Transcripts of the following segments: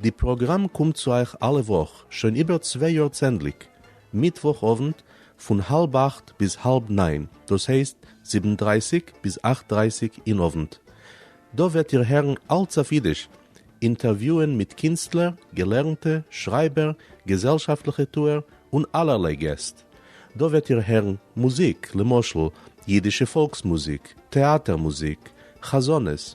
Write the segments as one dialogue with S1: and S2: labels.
S1: די פראגראם קומט צו אייך אלע וואך שוין איבער צוויי יאר צענדליג מיטוואך אוונט פון האלב אכט ביז האלב ניין דאס הייסט זיבן דרייסיג ביז אכט דרייסיג אין אוונט. דא וועט איר הערן אלץ אויף אידיש, אינטערוויוען מיט קינסטלער, געלערנטע, שרייבער, געזעלשאפטליכע טוער און אלערליי געסט. דא וועט איר הערן מוזיק למשל אידישע פאלקס מוזיק, טעאטער מוזיק, חזנות,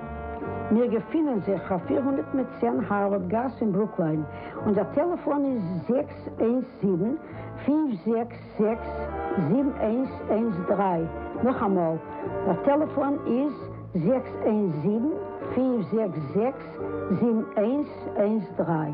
S2: מיר געפינען זיך אויף פֿיר הונדערט מיט צען הארווארד גאס אין ברוקליין, און דער טעלעפאן איז זעקס איינס זיבן, פֿינף זעקס זעקס, זיבן איינס איינס דרײַ, נאכאמאל, דער טעלעפאן איז זעקס איינס זיבן, פֿינף זעקס זעקס, זיבן איינס איינס דרײַ.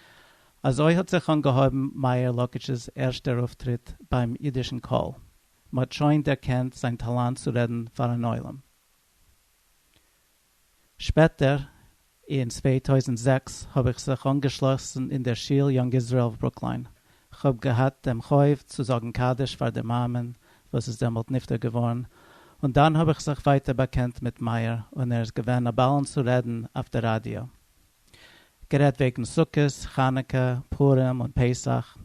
S3: אזוי האט זיך אנגעהויבן מאיר לאקיש'ס ערשטער אויפטריט ביים אידישן קול, מ'האט שוין דערקענט זיין טאלאנט צו רעדן פארן עולם. שפעטער אין צוויי טויזנט זעקס האב איך זיך אנגעשלאסן אין דער שול יונג איזראעל אוו ברוקליין, כ'האב געהאט דעם חוב צו זאגן קדיש פאר דער מאמען וואס איז דעמאלט נפטר געווארן, און דאן האב איך זיך ווייטער באקענט מיט מאיר און ער איז געווען א באלן צו רעדן אויף דער ראדיא. גערעדט וועגן סוכות, חנוכה, פורים און פסח,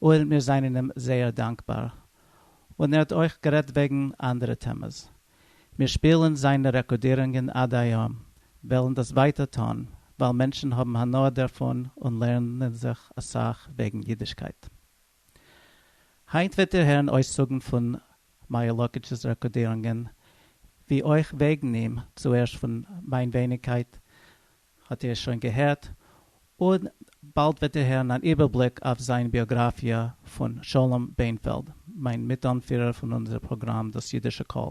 S3: און מיר זענען אים זייער דאנקבאר. און ער האט אויך גערעדט וועגן אנדערע טעמעס. מיר שפילן זיינע רעקארדירונגען עד היום, וועלן דאס ווייטער טון, ווייל מענטשן האבן הנאה דערפון און לערנען זיך אסאך וועגן אידישקייט. היינט וועט איר הערן אויסצוגן פון מאיר לאקוטש'ס רעקארדירונגען, ווי אויך וועגן אים, צוערשט פון מיין ווייניגקייט האט איר שוין געהערט, און באלד וועט איר הערן אן איבערבליק אויף זיין ביאגראפיע פון שלום בענפעלד, מיין מיט-אנפירער פון אונזער פראגראם דאס אידישע קול.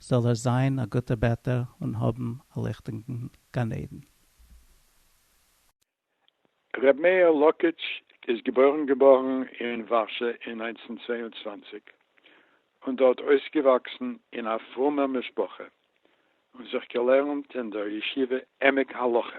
S3: זאל ער זיין א גוטער בעטער און האבן א ליכטיגן גן עדן.
S4: ר' מאיר לאקיטש איז געבוירן געבוירן אין ווארשע אין נײַנצן צוויי און צוואַנציק און דארט אויסגעוואקסן אין א פרומער משפחה און זיך געלערנט אין דער ישיבה עמק הלכה.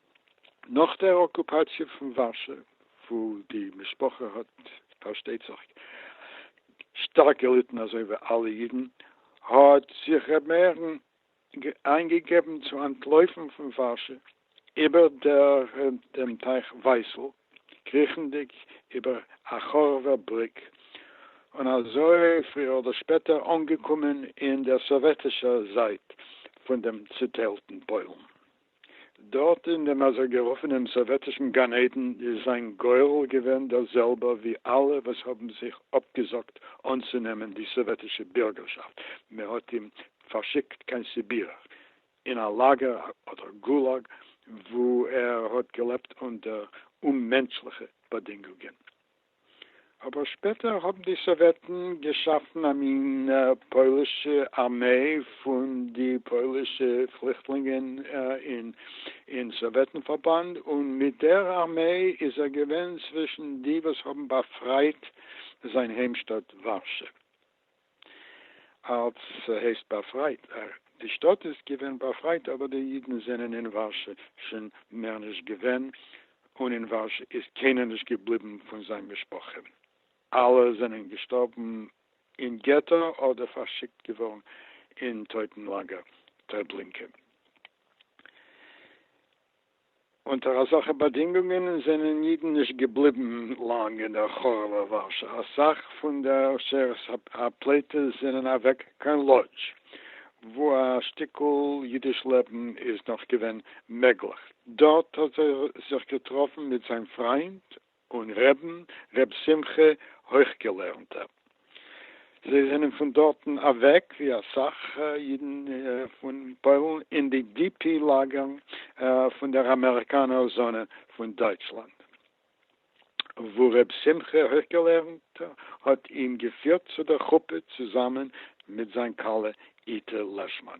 S4: נאך דער אקופאציע פון ווארשע, וואו די משפחה האט פארשטייט זיך שטארק געליטן אזוי ווי אלע אידן, האט זיך ר' מאיר'ן איינגעגעבן צו אנטלויפן פון ווארשע איבער דעם טייך ווייסל, קריכנדיג איבער א חורב'ער בריק, און אזוי פריער אדער שפעטער אנגעקומען אין דער סאוועטישער זייט פון דעם צעטיילטן פוילן. דארט אין דעם אזוי גערופענעם סאוועטישן גן עדן איז זיין גורל געווען דער זעלבער ווי אלע וואס האבן זיך אפגעזאגט אנצונעמען די סאוועטישע בירגערשאפט, מען האט אים פארשיקט קיין סיביר אין א לאגער אדער גולאג וואו ער האט געלעבט אונטער אוממענטשליכע באדינגונגען. אבער שפעטער האבן די סאוועטן געשאפן א מין פוילישע ארמעי פון די פוילישע פליכטלינגען אין סאוועטן פארבאנד, און מיט דער ארמעי איז ער געווען צווישן די וואס האבן באפרייט זיין היימשטאט ווארשע. אלס ס'הייסט באפרייט, די שטאט איז געווען באפרייט אבער די אידן זענען אין ווארשע שוין מער נישט געווען און אין ווארשע איז קיינער נישט געבליבן פון זיין משפחה, אלע זענען געשטארבן אין געטא אדער פארשיקט געווארן אין טויטן לאגער טרעבלינקע. אונטער אזעלכע באדינגונגען זענען אידן נישט געבליבן לאנג אין דער חרוב'ער ווארשא, א סך פון די עושרת הפלטות זענען אוועק קיין לאדזש, וואו א שטיקל אידיש לעבן איז נאך געווען מעגליך, דארט האט ער זיך געטראפן מיט זיין פריינד, און ר' ר' שמחה הויכגעלערנטער. זיי זענען פון דארטן אוועק ווי אסאך אידן פון פוילן אין די די פי לאגערן פון דער אמעריקאנער זאנע פון דייטשלאנד וואו ר' שמחה הויכגעלערנטער האט אים געפירט צו דער חופה צוזאמען מיט זיין כלה איטע לעשמאן.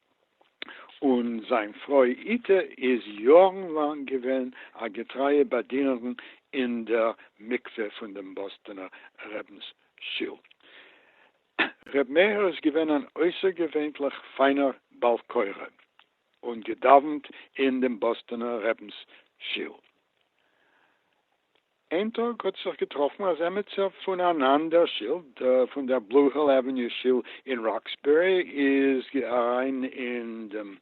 S4: און זיין פרוי איטע איז יארן לאנג געווען א געטרייע באדינערן אין דער מקווה פון דעם באסטאנער רבינ'ס שול. ר' מאיר איז געווען אן אויסערגעווענליך פיינער בעל קורא, און געדאווענט אין דעם באסטאנער רבינ'ס שול. איין טאג האט זיך געטראפן אז עמיצער פון אן אנדער שיל, פון דער בלו היל עוועניו שיל אין ראקסבערי, איז אריין אין דעם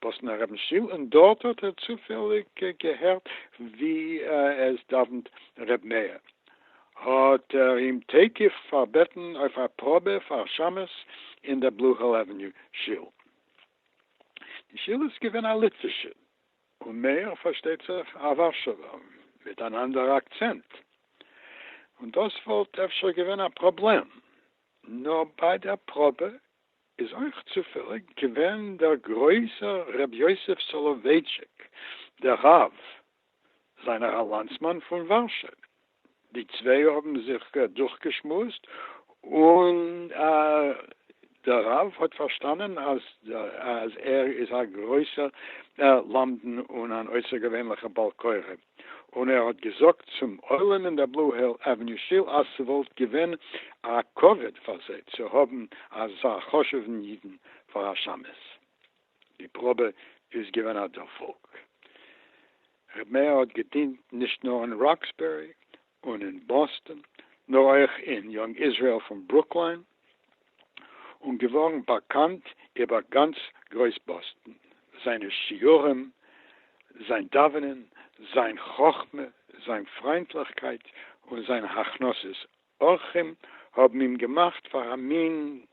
S4: באסטאנער רבינ'ס שיל, און דארט האט ער צופעליג געהערט ווי עס דאווענט ר' מאיר, האט ער אים תיכף פארבעטן אויף א פראבע פאר שמות אין דער בלו היל עוועניו שיל. די שיל איז געווען א ליטווישע, און מאיר פארשטייט זיך א ווארשעווער מיט אן אנדערע אקצענט, און דאס וואלט אפשר געווען א פראבלעם, נאר ביי דער פראבע איז אויך צופעליג געווען דער גרויסער ר' יוסף סאלאווייטשיק דער רב זיינער א לאנדסמאן פון ווארשע. די צוויי האבן זיך דורכגעשמועסט און דער רב האט פארשטאנען אז אז ער איז א גרויסער למדן און אן אויסערגעווענליכער בעל קורא, און ער האט געזאגט צום עולם אין דער בלו היל עוועניו שול אז ס'וואלט געווען א כבוד פאר זיי צו האבן אזא חשוב'ן אידן פאר א שמשׂ. די פראבע איז געווען א דערפאלג. ר' מאיר האט געדינט נישט נאר אין ראקסבערי און אין באסטאן, נאר אויך אין יונג איזראעל פון ברוקליין, און געווארן באקאנט איבער גאנץ גרויס באסטאן, זיינע שיעורים, זיין דאווענען, זיין חכמה, זיין פריינטליכקייט, און זיין הכנסת אורחים האבן אים געמאכט פאר א מין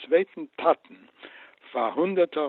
S4: צווייטן טאטן פאר הונדערטער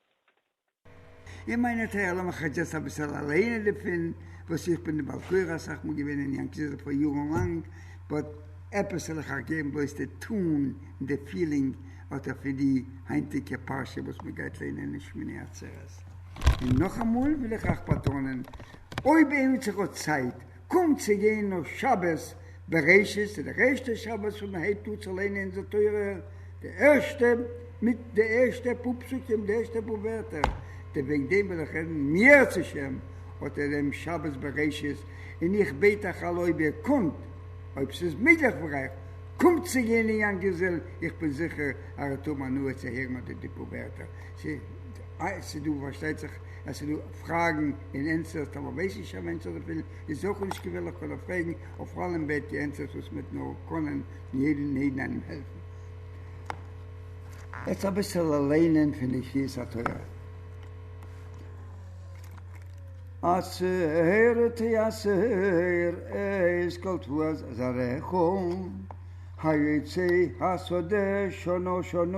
S5: אין מיינע טעג, לאמיר כאטש יעצט אביסעל אליינע דערפון, וואס איך בין די בעל קורא אסאך מאל געווען אין יענקי זעלע פאר יארן לאנג, באט עפעס וועל איך אייך געבן בלויז די טאן און די פילינג אטא פון די היינטיגע פרשה וואס מען גייט לערנען אין שמיני עצרת. און נאכאמאל וויל איך אייך באטאנען, אויב איינער האט זיך האט צייט, קומט צו גיין נאך שבת בראשית איז דער ערשטע שבת וואס מען הייבט אן צו ליינען אונזער תורה, די ערשטע מיט די ערשטע פאר פסוקים, די ערשטע פאר ווערטער, די וועגן דעם וויל איך רעדן מיערצעשעם אטע דעם שבת בראשית, און איך בעט אייך אלע אויב איר קאנט, אויב ס'איז מעגליך פאר אייך, קומט צו גיין אין יאנקיזעל, איך בין זיכער אז איר וועט האבן הנאה צו הערן אטע די פאר ווערטער. ס'איז דא פארשטייט זיך אז ס'איז דא פראגן און ענטפערס, טאמער ווייס נישט א מענטש אזויפיל איז אויך נישט געווענליך קען ער פרעגן, אויף אלעם בעט איר ענטפערס וואס מ'וועט נאר קענען און יעדן און יעדן איינעם העלפן. יעצט אביסל ליינען פון די קריאת התורה. אסור תיאסר את כל תבואת זרעך, היוצא השדה שנה שנה.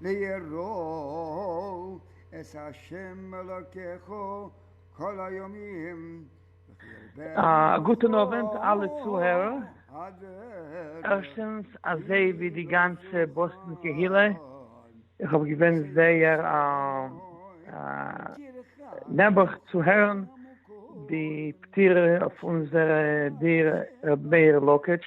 S5: לארול את ה' אלקיך כל הימים וכי ירבה עמך א
S6: גוטען אווענט אלע צוהערער, ערשטענס אזוי ווי די גאנצע באסטאן קהילה איך האב געווען זייער נעבעך צו הערען די פטירה אויף אונזער די ר' מאיר לאקעטש,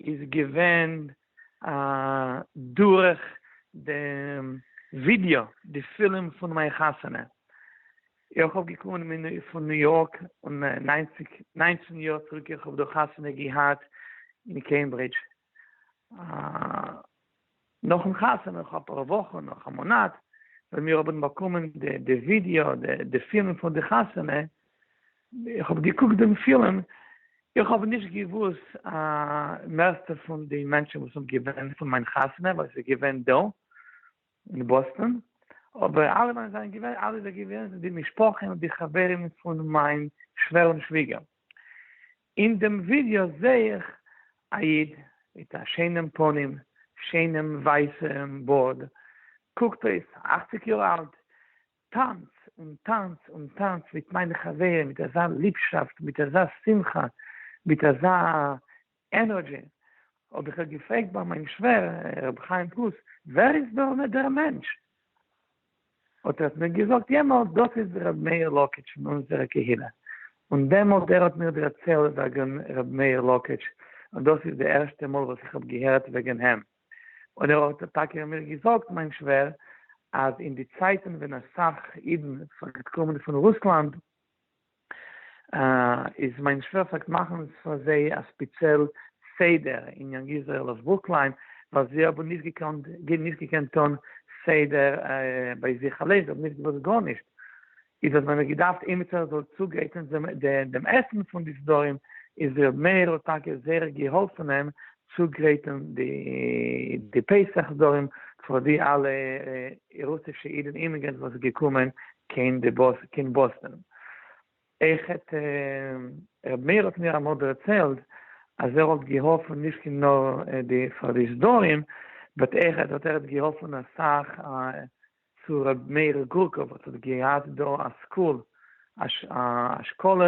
S6: איז געווען דורך די ווידיא די פילם פון מיין חתונה איך האב געקומען פון ניו יארק און נײַנצן יאר צוריק איך האב דא חתונה געהאט אין קעמברידזש. נאכן חתונה נאך אפאר וואכן נאך א מאנאט ווען מיר האבן באקומען די ווידעא די פילם פון די חתונה איך האב געקוקט דעם פילם איך האב נישט געוואוסט א מערסטע פון די מענטשן וואס האבן געווען פון מיין חתונה ווייל ס'איז געווען דא אין באסטאן אבער אלע ווען זענען געווען אלע זענען געווען די משפחה און די חברים פון מיין שווער און שוויגער. אין דעם ווידיא זעה איך א איד מיט א שיינעם פנים, שיינעם ווייסעם בארד, קוקט אויס אכציג יאר אלט, טאנץ און טאנץ און טאנץ מיט מיינע חברים מיט אזא ליבשאפט, מיט אזא שמחה, מיט אזא ענערדזשי, האב איך געפרעגט ביי מיין שווער ר' חיים פלוס, ווער איז דא דער מענטש? האט ער מיר געזאגט יעמאלט דאס איז די ר' מאיר לאקעטש פון אונזערע קהילה און דעמאלט ער האט מיר דערצעהלט וועגען ר' מאיר לאקעטש און דאס איז די ערשטע מאל וואס איך האב געהערט וועגען איהם און ער האט טאקע מיר געזאגט מיין שווער אז אין די צייטען ווען אסאך אידען פארגט קומען פון רוסלאנד איז מיין שווער פלעגט מאכן פאר זיי א ספיצעל סדר אין יאנג איזרעיל אויף ברוקליין ווייל זיי האבן נישט געקאנט נישט געקענט טון סדר ביי זיך אליין זיי האבן נישט געוואוסט גארנישט איז האט מען געדארפט עימיצער זאל צוגרייטען דעם עסן פון די סדרים איז ר' מאיר האט טאקע זייער געהאלפן אים צוגרייטן די פסח דארום פאר די אלע רוסישע אידן אימיגרענטס וואס איז געקומען קיין באסטאן. איך האט ר' מאיר האט מיר אמאל דערציילט אז ער האט געהאלפן נישט נאר פאר די סדרים באט ער האט געהאלפן אסאך צו ר' מאיר גורקא וואס האט געהאט דא א סקול א אשכול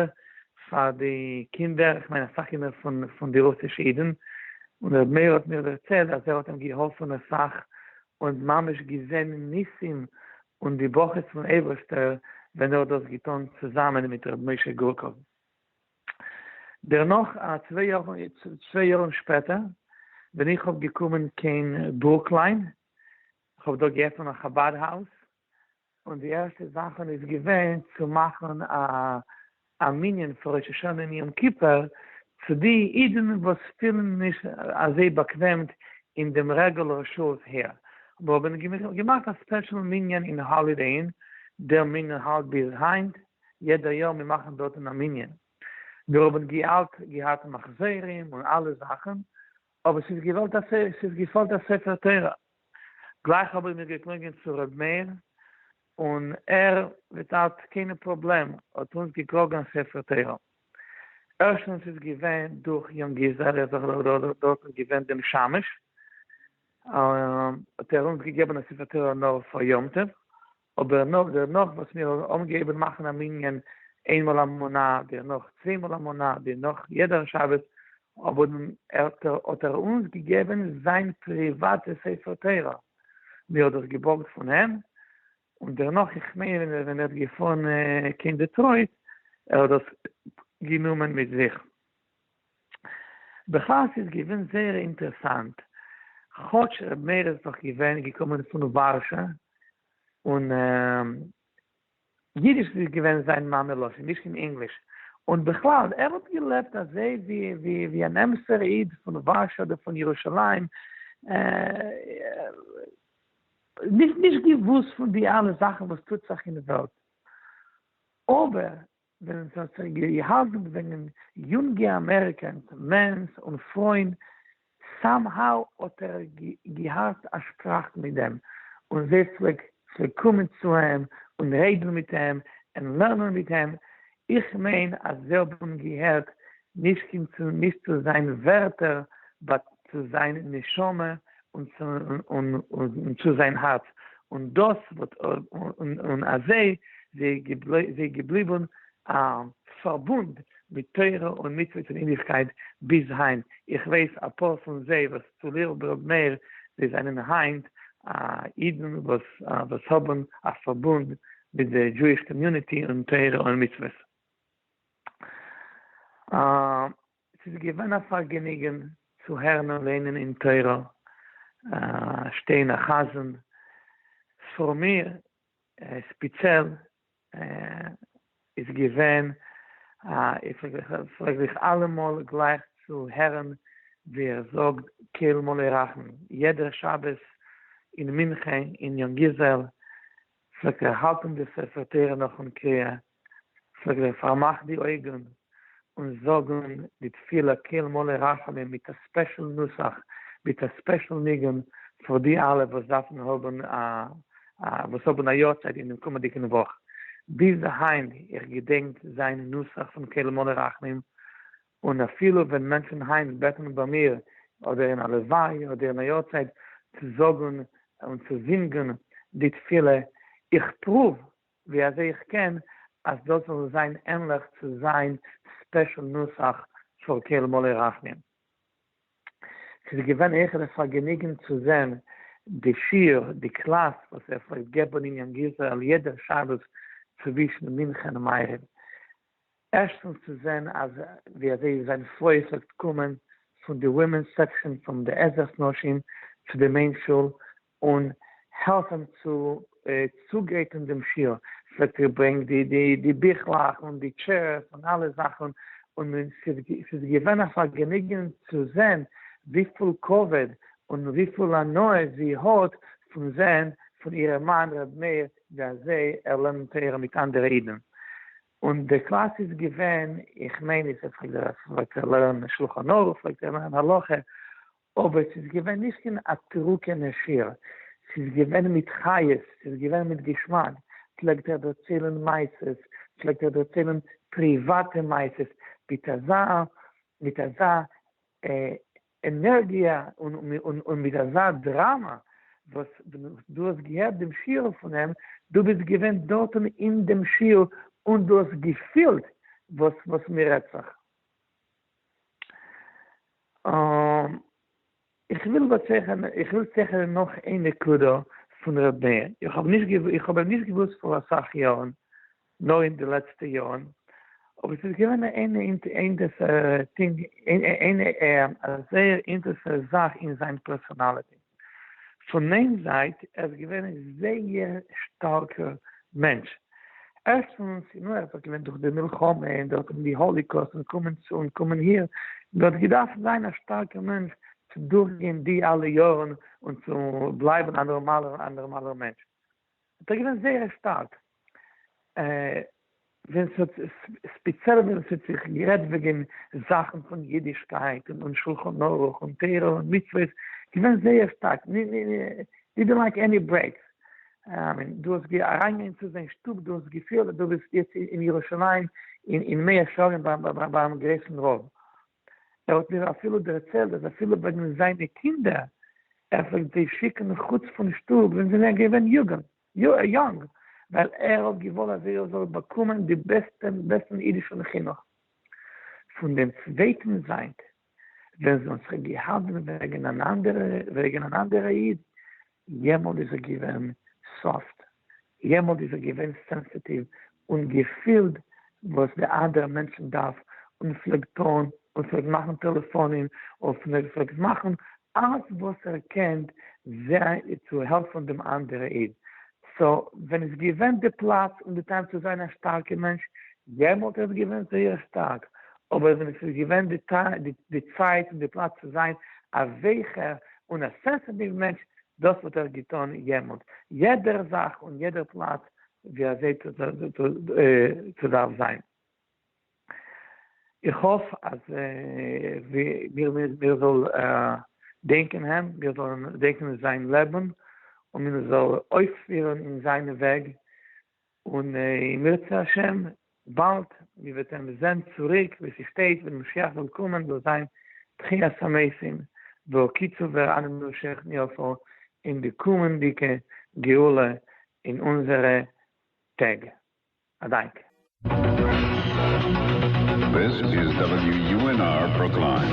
S6: פאר די קינדער איך מיין אסאך קינדער פון פון די רוסישע אידן און ר' מאיר האט מיר דערציילט אז ער האט אים געהאלפן אסאך און ממש געזען ניסים און די ברכות פון אייבערשטער ווען ער האט דאס געטון צוזאמען מיט ר' משה גורקא דערנאך א צוויי יאר צוויי יארן שפעטער ווען איך האב געקומען קיין ברוקליין כ'האב דא געעפענט א חבד האוז, און די ערשטע זאכן איז געווען צו מאכן א מנין פאר ראש השנה און יום כיפור, צו די אידן וואס פילן נישט אזוי באקוועם אין דעם רעגולער שעות העיר, מיר האבן געמאכט א ספעשל מנין אין האלידעי אין, דער מנין האלט ביז היינט, יעדע יאר מיר מאכן דארטן א מנין, מיר האבן געהאט מחזורים און אלע זאכן, אבער ס'איז געוואלט א ספר, ס'איז געפאלט א ספר תורה, גלייך האב איך מיר געקלונגען צו ר' מאיר, און ער וויטאוט קיינע פראבלעם האט אונז געקראגן א ספר תורה, ערשטנס איז געווען דורך יונג איזער זכ ל דארט איז געווען דעם שמש, האט ער אונז געגעבן א ספר תורה נאר פאר יום טוב, אבער נאך דערנאך וואס מיר האבן געהעבן מאכן א מנין איינמאל א מונה, דערנאך צוויי מאל א מונה, דערנאך יעדער שבת, האבן האט ער אונז געגעבן זיין פריוואטע ספר תורה, מיר האט דאס געבארגט פון אים, און דערנאך איך מיין ווען ער האט געפארן קיין דעטרויט ער האט דאס גענומען מיט זיך. בכלל ס'איז געווען זייער אינטערעסאנט, כאטש ר' מאיר איז דאך געווען געקומען פון ווארשע, און אידיש איז געווען זיין מאמע לשון, נישט קיין ענגליש, און בכלל ער האט געלעבט אזוי ווי ווי ווי אן אמת'ער איד פון ווארשע אדער פון ירושלים, נישט נישט געוואוסט פון די אלע זאכן וואס טוט זיך אין וועלט, אבער ווען עס האט זיך געהאלטן וועגן יונגע אמעריקענס מענס און פרויען סאם האו האט ער געהאט א שפראך מיט דעם און זיי פלעגט פלעגט קומען צו אים און רעדן מיט אים און לערנען מיט אים איך מיין אז זיי האבן געהערט נישט קיין צו נישט צו זיין ווערטער באט צו זיין נשמה און צו זיין האַרץ, און דאָס וואָרט, און אַזוי זיי געבליבן פאַרבונד מיט תורה און מצוות און אידישקייט ביז היינט. איך ווייס אַ פּאָר פון זיי וואָס צו ליל ברענט נר, זיי זיינען היינט אידן וואָס האָבן אַ פאַרבונד מיט די דזשואיש קאָמיוניטי און תורה און מצוות. עס איז געווען א פארגעניגען צו הערן און לערנען אין תורה, שטיין א חזן, פאר מיר ספיציעל איז געווען א איך פרעג זיך אלעמאל גלייך צו הערן ווי ער זאגט כל מלא רחמים, יעדע שבת אין מנחה אין יונגיזעל פלעגט ער האלטען די ספר תורה נאכן קריאה, זאגט ער פארמאך די אויגן און זאג אן די תפילה קל מלא רחמים מיט א ספעשל נוסח מיט א ספעשל ניגון פאר די אלע וואס דארפן האבן א וואס האבן א יארצייט אינעם קומענדיגן וואך, ביז היינט איך געדענק זיין נוסח פון קל מלא רחמים, און אפילו ווען מענטשן היינט בעטן ביי מיר אדער אין א לווי' אדער אין א יארצייט צו זאגן און צו זינגן די תפילה, איך פרואוו ווי אזוי איך קען אז דאס זאל זיין ענליך צו זיין ספעשל נוסח פאר כעל מלא רחמים. ס'איז געווען העכער א פארגעניגן צו זען די שיעור, די קלאס וואס ער פלעגט געבן אין יענג איזרעיל יעדע שבת צווישן מנחה און מעריב. ערשטנס צו זען אז ווי אזוי זיין פלוי פלעגט קומען פון די ווימענס סעקשאן פון די עזרת נשים צו די מעין שול און העלף אים צו צוגרייטן דעם שיעור, ס'וועט איר ברענג די די די ביכלעך און די טשערס און אלע זאכן, און ס'איז געווען א פארגעניגן צו זען וויפיל כבוד און וויפיל הנאה זי האט פון זען פון אירע מאן ר' מאיר ווי אזוי ער לערנט תורה מיט אנדערע אידן, און די קלאס איז געווען, איך מיין איז ער פלעגט דארט לערנען שלחן ערוך, פלעגט ער לערנען הלכה, אבער ס'איז געווען נישט אין א טרוקענע שיר, ס'איז געווען מיט חיות, ס'איז געווען מיט געשמאק, פלעגט ער דערציילן מעשות, פלעגט ער דערציילן פריוואטע מעשות, מיט אזא, מיט אזא ענערגיע און מיט אזא דראמא, וואס ווען דו האסט געהערט דעם שיעור פון אים, דו ביסט געווען דארטן אין דעם שיעור און דו האסט געפילט וואס מ'רעדט זיך. איך וויל צעכערן נאך איין נקודה פון ר' מאיר, איך האב אים נישט געוואוסט פאר אסאך יארן, נאר אין די לעצטע יארן, אבער ס'איז געווען אן אינטערסאנטע זאך אין זיין פערסאנאליטי. פון מיין זייט, ער איז געווען א זייער שטארקע מענטש. ערשטנס, נו, ער האט דאך געלידן דורך די מלחמה, און דארט האבן די האליקאוסט און קומען צו און קומען אהין, און ער האט געדארפט זיין א שטארקע מענטש צו דורכגיין די אלע יארן און צו בלייבן א נארמאלער א נארמאלער מענטש. ס'איז דאך געווען זייער שטארק ווען ס'האט ספעציעל ווען ס'האט זיך גערעדט וועגען זאכען פון אידישקייט און און שלחן ערוך און תורה און מצוות געווען זייער שטארק דידענט לייק עני ברעיקס אמיין דו האסט אריין געווען צו זיין שטוב דו האסט געפיהלט אז דו ביסט יעצט אין ירושלים אין מאה שערים ביים גרויסען רב ער האט מיר אפילו דערציילט אז אפילו וועגן זיינע קינדער ער פלעגט זיי שיקן מחוץ פון שטוב ווען זיי זענען געווען יוגנט, יונג, ווייל ער האט געוואלט אז זיי זאלן באקומען די בעסטען בעסטן אידישן חינוך. פון דעם צווייטן זייט ווען זיי האבן זיך געהאלטן וועגן אן אנדערע וועגן אן אנדערע איד יעמאלט איז ער געווען סאפט, יעמאלט איז ער געווען סענסעטיוו און געפילט וואס די אנדערע מענטשן דארף, און פלעגט טון און פלעגט מאכן טעלעפאנען און פלעגט מאכן אלעס וואס ער קען זיי צו העלפן דעם אנדערע איד, סא ווען איז געווען די פלאץ און די טיים צו זיין א שטארקע מענטש, יעמאלט איז ער געווען זייער שטארק, אבער ווען עס איז געווען די צייט און די פלאץ צו זיין א וועכער און א סענסעטיוו מענטש, דאס האט ער געטון יעמאלט, יעדער זאך און יעדער פלאץ ווי אזוי צו דארף זיין. איך האף אז מיר זאל דענקען אים, מיר זאלן דענקען זיין לעבן, און מיר זאל אויפפירן אין זיינע וועג, און אם ירצה ה' באלד מיר וועט אים זען צוריק ווי ס'שטייט ווען משיח זאל קומען זאל זיין תחיית המתים והקיצו ואר אנן נמשך נרפא אין די קומענדיגע גאולה אין אונזערע טעג. א דאנק.
S7: This is WUNR Brookline.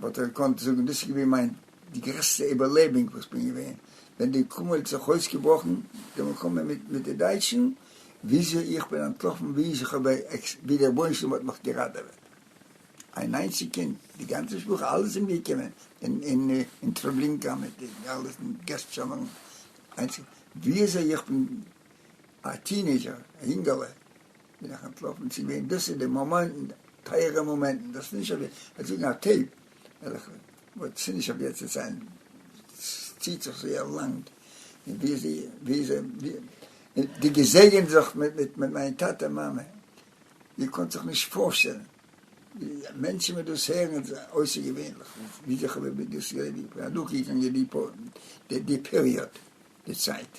S5: וואלט ער געקאנט זאגן, דאס איז געווען מיין די גרעסטע איבערלעבונג וואס כ'בין געווען, ווען די קומע האט זיך אויסגעבראכן, די מלחמה מיט מיט די דייטשן, וויאזוי איך בין אנטלאפן, וויאזוי כ'האב ווי דער רבונו של עולם האט מיך געראטעוועט, איין איינציג קינד, די גאנצע משפחה, אלע זענען אומגעקומען אין אין טרעבלינקא מיט די אלע געסט שמערן, איינציג וויאזוי איך בין א טינעידזשער, א יונגעלע. בין איך אנטלאפן צו וועם דאס איז די מאמענטן טייערע מאמענטן דאס איז נישט אויף וועט זאגן א טעיפ וועלכע וואס ס'איז נישט אויף יעצט צו ציילן ס'ציט זיך זייער לאנג און ווי זיי ווי זיי און די געזעגענט זיך מיט מיט מיט מיין טאטע מאמע איר קאנט זיך נישט פארשטעלן ווי מענטשן וועט דאס הערן איז אויסערגעווענליך ווי זיך אבער ווי דאס איז אדורכגעגאנגען די די פעריאד די צייט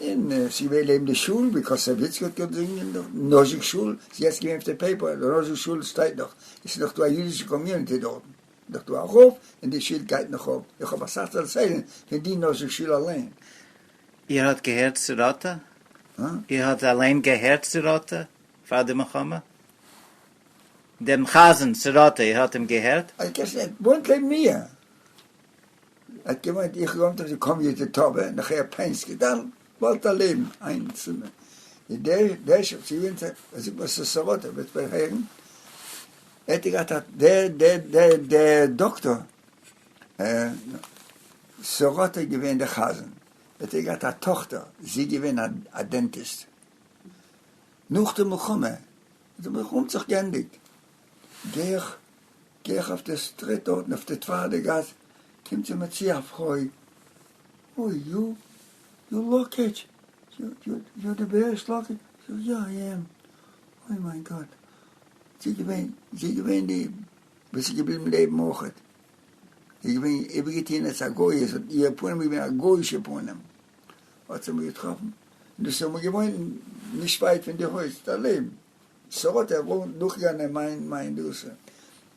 S5: און עס איז געווען לעבן די שול ווי קאסאוו איציק האט געזינגען דארט, נאזשיק שול, עס איז יעצט געווען אויף די פעיפער, די נאזשיק שול שטייט נאך, עס איז נאך דא א אידישע קאמיוניטי דארטן, נאך דא א רב, און די שילד גייט נאך אויף, איך האב אסאך צו דערציילען פון די נאזשיק שול אליין. איר האט
S8: געהערט צו ראטה? איר האט אליין געהערט צו ראטה פאר די מלחמה? דעם חזן צו ראטה איר האט אים געהערט? אז קעסנער וואוינט
S5: לעבן מיר. ער האט געמיינט איך לאנד אויף די קאמיוטער טאווער און איך הער פאונס געדאנק וואלט א לעבן איין צימער דעש אויף צו ווינטער ער זאגט מיר ס'איז סאראטע וועט ווען הערן ער'ט געהאט א דער דער דער דער דאקטאר סאראטע איז געווען די חזן ער'ט געהאט א טאכטער זי איז געווען א א דענטיסט נאך די מלחמה האט די מלחמה האט זיך גענדיגט גיי איך גיי איך אויף די סטריט דארטן אויף די צווייטע גאס קומט זי מיר צו א פרוי, אוי יו יו לאקעטש יו יו יו די בעריש לאקעטש, איך זאג יא איי עם, אוי מיין גאט זי געווען זי געווען די וואס איז געבליבן לעבן מאוחד, זי געווען איבערגעטוהן עס א גוי'איש האט איהר פנים איז געווען א גוי'אישע פנים, האט זי מיר געטראפן און דאס איז אמאל געוואוינט נישט ווייט פון די הויז דער לעבן. סאו האט ער וואלט דורכגענען מיין מיין דאס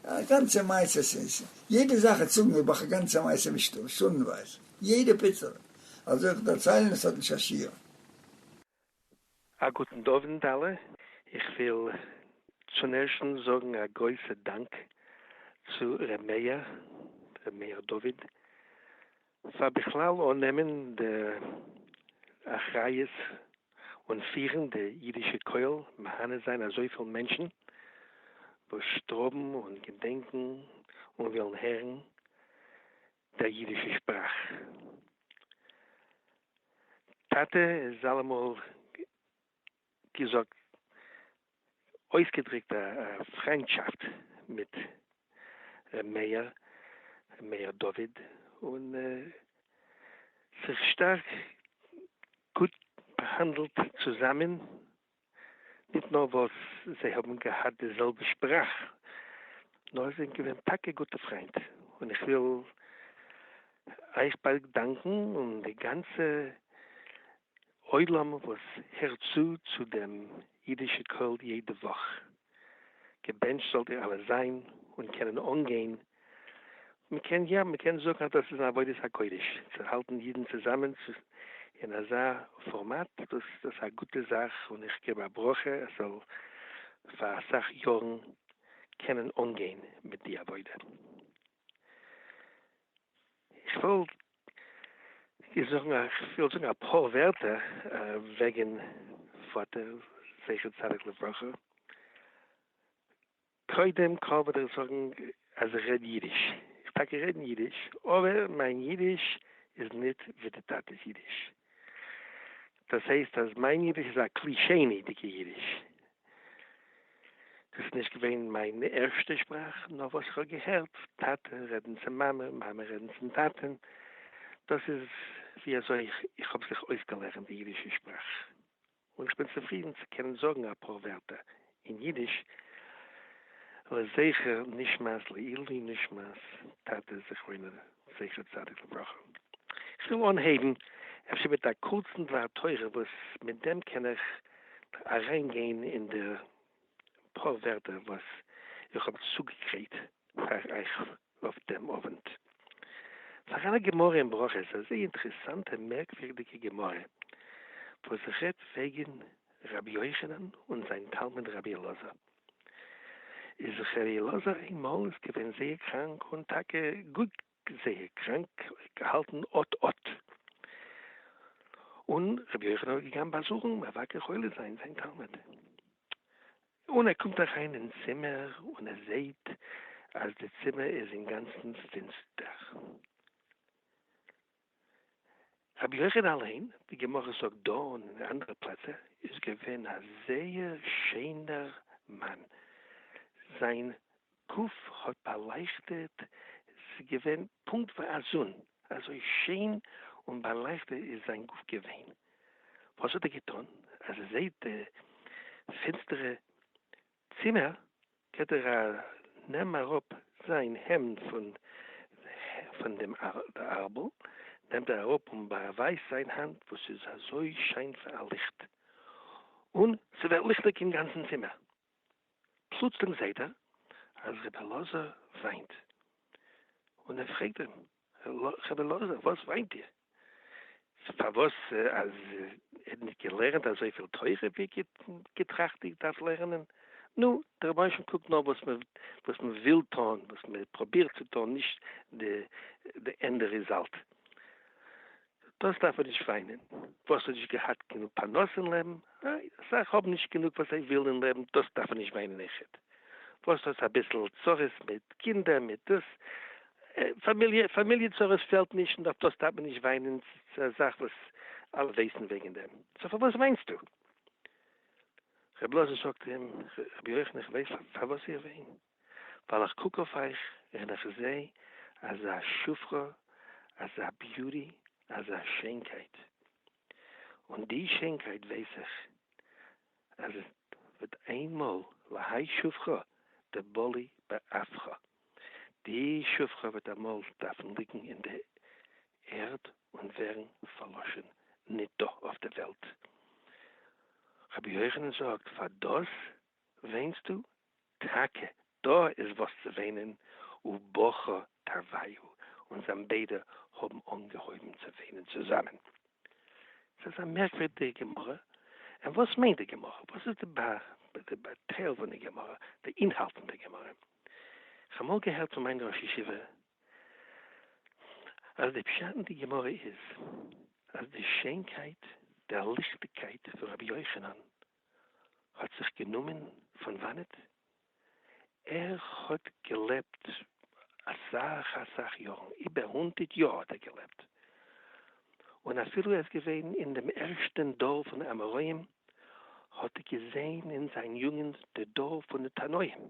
S5: א גאנצע מעשה סאיז יעדע זאך איך צוג מיר באך גאנצע מעשה מיט שטונדנווייז יעדע פיצעלע אזוי איך דערציילן עס האט נישט א שיעור. א
S9: גוטן אווענט אלע, איך וויל צון ערשטנס זאגן א גרויסע דאנק צו ר' מאיר, ר' מאיר דוד פאר בכלל אננעמען די אחריות און פירן די אידישע קהל, מהנה זיין אזויפיל מענטשן וואס שטראבן און געדענקן און ווילן הערן דער אידישע שפראך. טאטע איז אלעמאל געזאגט אויסגעדריקט א פריינטשאפט מיט ר' מאיר מאיר דוד און זיך שטארק גוט באהאנדלט צוזאמען, ניט נאר וואס זיי האבן געהאט די זעלבע שפראך, נאר זיי זענען געווען טאקע גוטע פריינט, און איך וויל אייך באדאנקן און די גאנצע עולם וואס הערט צו צו דעם אידישע קול יעדע וואך. געבענטשט זאלט איר אלע זיין און קענען אנגיין, מ'קען יא מ'קען זאגן אז דאס איז אן עבודת הקודש צו האלטן אידן צוזאמען אין אזא פארמאט, דאס דאס איז א גוטע זאך און איך געב א ברכה עס זאל פאר אסאך יארן קענען אנגיין מיט די עבודה. איך וויל זאגן א כ'וויל זאגן אפאר ווערטער וועגן פאטער זכר צדיק לברכה. קודם כל וויל איך זאגן אז איך רעד אידיש. איך טאקע רעד אידיש, אבער מיין אידיש איז ניט ווי די טאטע'ס אידיש. דאס הייסט אז מיין אידיש איז א כלי שני'דיגע אידיש. דאס איז נישט געווען מיין ערשטע שפראך, נאר וואס איך האב געהערט טאטע רעדן צו מאמע, מאמע רעדן צום טאטע'ן, דאס איז ווי אזוי איך האב זיך אויסגעלערנט די אידישע שפראך, און איך בין צופרידן צו קענען זאגן אפאר ווערטער אין אידיש, לזכר נשמת לעילוי נשמת טאטע זכרונו זכר צדיק לברכה. איך וויל אנהייבן אפשר מיט א קורצן דבר תורה וואס מיט דעם קען איך אריין גיין אין די פאר ווערטער וואס איך האב צוגעגרייט פאר אייך אויף דעם אווענט. פאר אלע גמרא אין ברכות, אזא אינטערעסאנטע מערקווירדיגע גמרא וואס רעדט וועגן רבי יוחנן און זיין תלמיד רבי אלעזר איז זיך רבי אלעזר איינמאל איז געווען זייער קראנק און טאקע גאר זייער קראנק געהאלטן אט אט און רבי יוחנן איז געגאנגען באזוכן מבקר חולה זיין זיין תלמיד און ער קומט אריין אין צימער און ער זעהט אז די צימער איז אינגאנצן פינסטער. רבי יוחנן אליין, די גמרא זאגט דא און אין אנדערע פלעצער, איז געווען א זייער שענער מאן, זיין גוף האט באלייכטעט, ס'איז געווען פונקט ווי א זון, אזוי שיין און באלייכטעט איז זיין גוף געווען, וואס האט ער געטון אז ער זעט די פינסטערע צימער גייט ער א נעם אראפ זיין העמד פון פון דעם ארבל נעמט ער אראפ און באווייזט זיין האנט וואס איז אזוי שיין ווי א ליכט און ס'ווערט ליכטיג אין גאנצן צימער פלוצלינג זעהט ער אז ר' אלעזר וויינט און ער פרעגט אים. חברה לאזער וואס מיינט איר? פארוואס אז ער נישט געלערנט אזויפיל תורה ווי געטראכט איך דארף לערנען? נו, דער רבינשן קוקט נאר וואס מען וואס מען וויל טון, וואס מען פראבירט צו טון, נישט די ענדע ריזאלט. דאס דארף מען נישט וויינען, וואס האט נישט געהאט גענוג פרנסה אין לעבן, ניין, אסאך האבן נישט גענוג וואס זיי ווילן אין לעבן, דאס דארף מען נישט וויינען איחוד, וואס האט אביסל צרות מיט קינדער מיט דאס, פאמיליע פאמיליע צרות פעלט נישט און אויף דאס דארף מען נישט וויינען, ס'איז א זאך וואס אלע ווייסן וועגן דעם, סאו פארוואס וויינסטו? ר' אלעזר זאגט אים, ר' יוחנן איך ווייס פארוואס איך וויין. ווייל איך קוק אויף אייך און איך זע אזא שפחה, אזא ביוטי, אזא שיינקייט, און די שיינקייט ווייס איך אז עס וועט איינמאל להאי שפחה דבלי באפכא, די שפחה וועט אמאל דארפן ליגן אין די ערד און ווערן פארלאשן ניט דא אויף די וועלט. רבי יוחנן זאגט, פאר דאס וויינסטו? טאַקע דאָ איז װאָס צו װײנען, ובכּה תּרוויו, און זײַן בײדע האָבן אָנגעהױבן צו װײנען צוזאַמען. ס'איז אַ מערקװירדיקע גמרא. און װאָס מײנט די גמרא? װאָס איז די באַטײל פֿון דער גמרא, די אינהאַלט פֿון דער גמרא? כ'האָב אַמאָל געהערט פֿון מײַן ראָש-ישיבֿה, אַז דער פּשט אין דער גמרא איז, אַז די שענקײט, דער ליכטיקײט פֿון רב יוחנן האט זיך גענומען פון וואנעט? ער האט געלעבט אסאך אסאך יארן, איבער הונדערט יאר האט ער געלעבט, און אפילו ער איז געווען אין דעם ערשטען דור פון די אמוראים, האט ער געזעהן אין זיין יוגענט די דור פון די תנאים,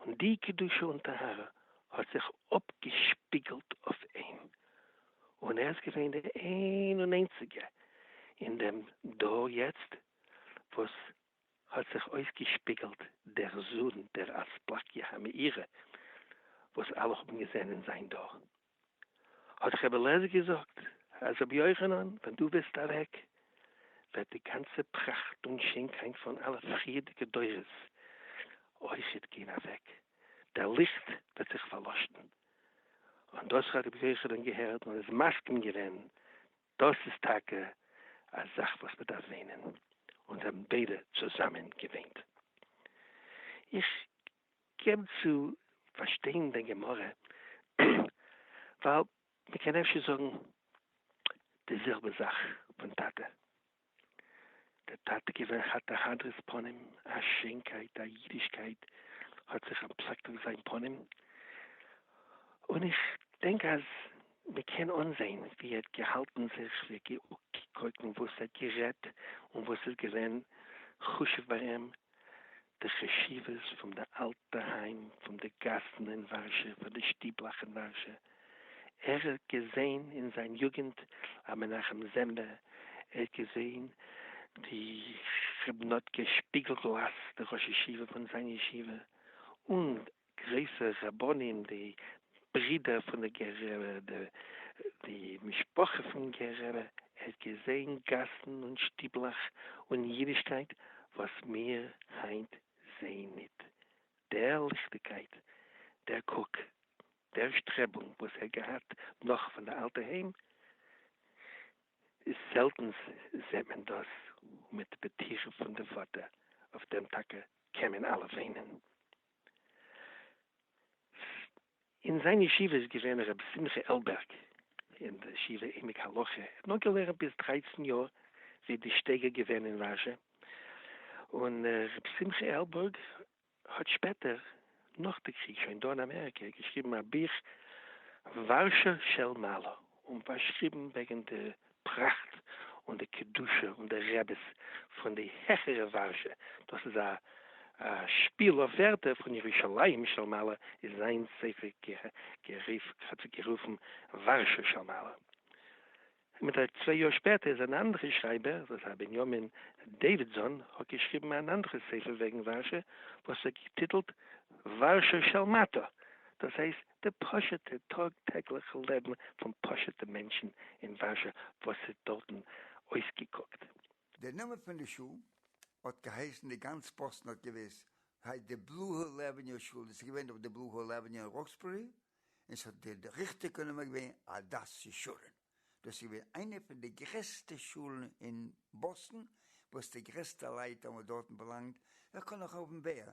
S9: און די קדושה און טהרה האט זיך אפגעשפיגלט אויף אים, און ער איז געווען די איין און איינציגע אין דעם דור יעצט וואס האט זיך אויסגעשפיגלט דער זון דער אספלקיה המאירה וואס אלע האבן געזען אין זיין דור. האט ר' אלעזר געזאגט אז רבי יוחנן ווען דו וועסט אוועק וועט די גאנצע פראכט און שענקייט פון אלע פריערדיגע דורות אויכעט גיין אוועק, דער ליכט וועט זיך פארלאשן. און דאס האט רבי יוחנן געהערט און איז מסכים געווען, דאס איז טאקע א זאך וואס מען דארף וויינען, און זיי האבן ביידע צוזאמען געוויינט. איך געב צו פארשטיין דיין גמרא ווייל מ'קען אפשר זאגן די זעלבע זאך פון טאטע, דער טאטע איז געווען חת א הדרת פנים, א שיינקייט, א אידישקייט האט זיך אנטפלעקט אויף זיין פנים, און איך דענק אז מ'קען אנזען ווי ער האט געהאלטן זיך, ווי ער האט געקוקט און וואס ער האט גערעדט און וואס איז געווען חשוב ביי אים, די חשיבות פון די אלטע היים, פון די גאסן אין ווארשע, פון די שטיבלאך אין ווארשע. ער האט געזען אין זיין יוגענט א מנחם זעמבע, ער האט געזען די כרבנות'קע שפיגל גלאז, די ראש ישיבה פון זיין ישיבה, און גרויסע רבנים די ברידער פון די גער רבי די די משפחה פון גער רבי ער האט געזעהן גאסן און שטיבלעך און אידישקייט וואס מיר היינט זעהן ניט דער ליכטיגקייט דער קוק דער שטרעבונג וואס ער געהאט נאך פון די אלטע היים איז זעלטנס זעהט מען דאס און מיט די פטירה פון די פאטער אויף דעם טאקע קען מען אלע וויינען. אין זיין ישיבה איז געווען הרב שמחה עלבערג אין די ישיבה עמק הלכה, ער האט נאר געלערנט ביז דרייצן יאר ווי די שטייגער געווען אין וואזשע, און הרב שמחה עלבערג האט שפעטער נאך די קריג שוין דא אין אמעריקע געשריבן א בוך ווארשא של מעלה און פארשריבן וועגן די פראכט און די קדושה און די רעביס פון די העכערע ווארשע, דאס איז א שפיל אויף ווערטער פון ירושלים של מעלה איז זיין ספר גערופן ווארשע של מעלה. מיט א צוויי יאר שפעטער איז אן אנדערע שרייבער וואס הייסט בנימין דעווידזאן האט געשריבן אן אנדערע ספר וועגן ווארשע וואס ער האט געטיטלט ווארשע של מטה דאס הייסט די פשוט'ע טאג טעגליכע לעבן פון פשוט'ע מענטשן אין ווארשע וואס איז דארטן אויסגעקוקט. די נאמען
S5: פון די שול האט געהייסן די גאנץ פאסטן האט געוויסט ס'הייסט די בלו היל עוועניו שול דאס איז געווען דורך די בלו היל עוועניו אין ראקסבערי און ס'האט די ריכטיגע נאמען געווען הדס ישורון דאס איז געווען איינע פון די גרעסטע שולן אין באסטן וואס די גרעסטע לייט האבן דארטן באלאנגט ווער קען נאך האבן בער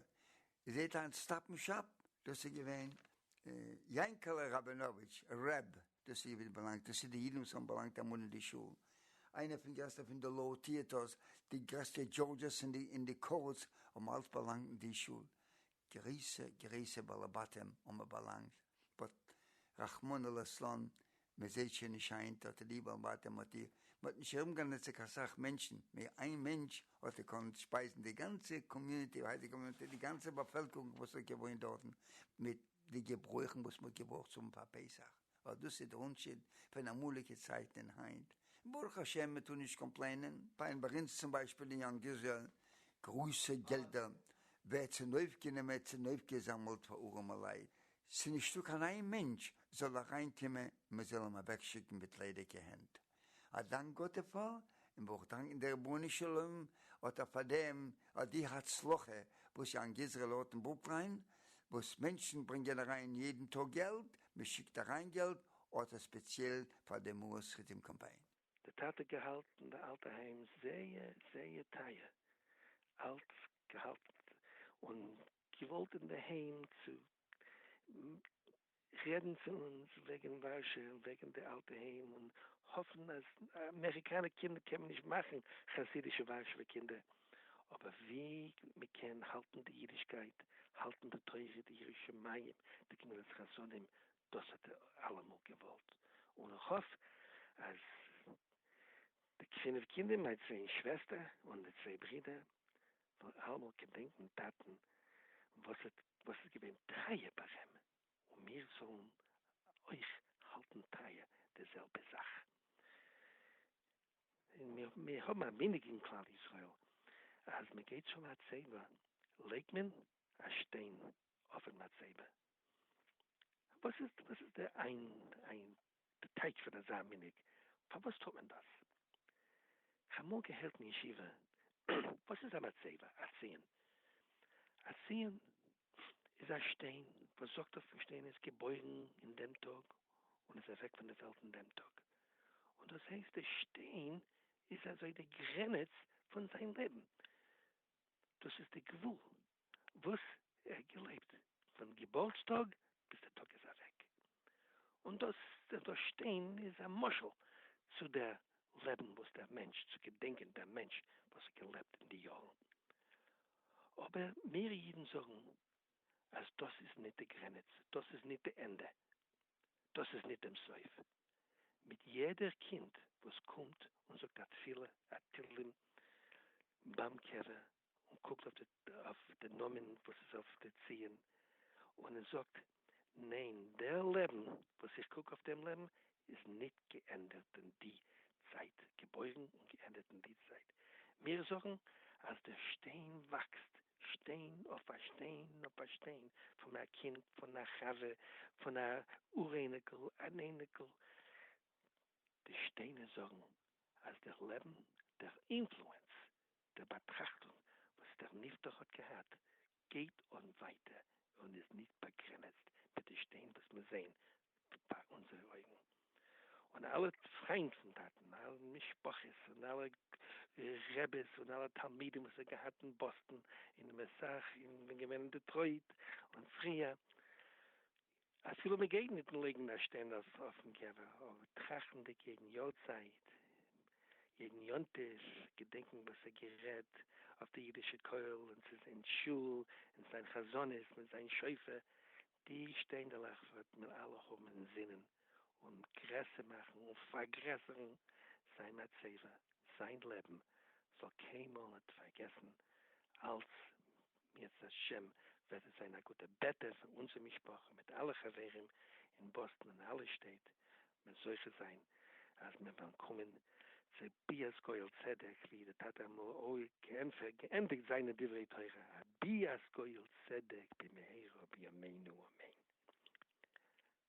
S5: איר זעט היינט סטאפ און שאפ, דאס איז געווען יענקעלע ראבינאוויטש רב, דאס איז געווען באלאנגט, דאס איז די אידן וואס האבן באלאנגט אמאל אין די שול, איינער פון גרעסטע פון די לאו טיעטערס, די גרעסטע דזשארדזשעס אין די קאורטס האבן אלץ באלאנגט אין די שול, גרויסע גרויסע בעלי בתים האבן באלאנגט, באט רחמנא לצלן מען זעהט שוין נישט היינט האט ליב אן ווייטער מאטיוו, מען האט נישט ארום גענעצער קיין סאך מענטשן מער, איין מענטש האט געקאנט שפייזן די גאנצע קאמיוניטי, וואס הייסט די קאמיוניטי, די גאנצע באפעלקערונג וואס האט געוואוינט דארטן, מיט די געברויכן וואס מען האט געברויכט צו האבן פאר פסח, אט דאס איז דער אנטשיד פון אמאליגע צייטן און היינט, ברוך השם מען טאר נישט קאמפלעינען. פיין ביי אונז צום ביישפיל אין יאנג איזרעיל, גרויסע געלדער ווערט צונויפגענומען צונויפגעזאמעלט פאר ארעמע לייט, ס'איז נישטא קיין איין מענטש זאל אריין קומען מען זאל אים אוועק שיקן מיט ליידיגע הענט, א דאנק גאט דערפאר, און ברוך דאנקען דער רבונו של עולם האט ער פארדעם האט די הצלחה וואס יאנג איזרעל האט אין ברוקלין, וואס מענטשן ברענגען אריין יעדן טאג געלט, מען שיקט אריין געלט האט ער ספעציעל פאר די מאה שחיטים קאמפיין. די טאטע
S9: געהאלטן די אלטע היים זייער זייער טייער, אלץ געהאלטן און געוואלט אינדערהיים צו רעדן צו אונז וועגן ווארשע און וועגן די אלטע היים און האפן אז אמעריקאנע קינדער קען מען נישט מאכן חסידישע ווארשעווע קינדער אבער ווי מען קען האלטן די אידישקייט האלטן די תורה די יראת שמים די גמילות חסדים דאס האט ער אלעמאל געוואלט און איך האף אז די פינף קינדער מיין צוויי שוועסטער און די צוויי ברידער נאר אלעמאל געדענקן טאטן וואס האט וואס איז געווען טרייע פארעם און מיר זאלן אויך האלטן טרייע די זעלבע זאך. און מיר מיר האבן א מנהג אין כלל ישראל אז מען גייט צו מצבה לייגט מען א שטיין אויפן מצבה וואס איז וואס איז די איין איין די טייטש פון אזא מנהג, פארוואס טוט מען דאס? כ'האב אמאל געהערט אין ישיבה, וואס איז א מצבה? א ציון? א ציון איז א שטיין וואס זאגט אויף דעם שטיין איז געבוירן אין דעם טאג און איז אוועק פון די וועלט אין דעם טאג, און דאס הייסט די שטיין איז אזוי די גרעניץ פון זיין לעבן, דאס איז די גבול. וואס ער האט געלעבט פון געבורטסטאג ביז דער טאג איז אוועק, און דאס זיך דא שטיין איז א משל צו דער לעבן וואס דער מענטש, צו געדענקען דעם מענטש וואס האט געלעבט אין די יארן, אבער מיר אידן זאגן אז דאס איז ניט די גרעניץ, דאס איז ניט די ענדע, דאס איז ניט דעם סוף, מיט יעדער קינד וואס קומט און זאגט א תפילה א תהלים ביים קבר און קוקט אויף די אויף די נאמען וואס איז אויף די ציון און ער זאגט ניין דער לעבן וואס איך קוק אויף דעם לעבן איז ניט געענדערט אין די צייט געבוירן און געענדערט אין די צייט מיר זאגן אז דער שטיין וואקסט שטיין אויף א שטיין אויף א שטיין פון א קינד פון א חבר פון א אור אייניקל אן אייניקל די שטיינער זאגן אז דער לעבן דער אינפלוענס דער באטראכטונג וואס דער נפטר האט געהאט גייט אן ווייטער און איז נישט באגרענעצט מיט די שטיין וואס מיר זעען פאר אונזערע אויגן, און אלע פריינד פון טאטן, אלע משפחות און אלע רעבעס און אלע תלמידים וואס ער האט געהאט אין באסטן און אין מסח און געווען אין דעטרויט און פריער. אפילו מען גייט ניט לייגן א שטיין אויף אויפן געווער, אבער טראכטנדיק יעדן יארצייט, יעדן יום טוב, געדענקען וואס ער האט גערעדט אויף די אידישע קויל און צו אין שול, און זיין חזנות מיט זיין שופר, די שטיינדעלעך וועט מען אלע האבן אין זינען און גרעסער מאכן און פארגרעסערן זיין מצבה, זיין לעבן זאל קיינמאל ניט פארגעסן אלץ בעזרת ה' וועט עס זיין א גוטע ב' טבת פאר אונזער משפחה מיט אלע חברים אין באסטן און אלע שטעט, מען זוכה זיין אז מיר וועלן קומען צו ביאת גואל צדק ווי דער טאטע אמור ע ה געענדיגט זיינע דברי תורה א ביאת גואל צדק במהרה בימינו אמן.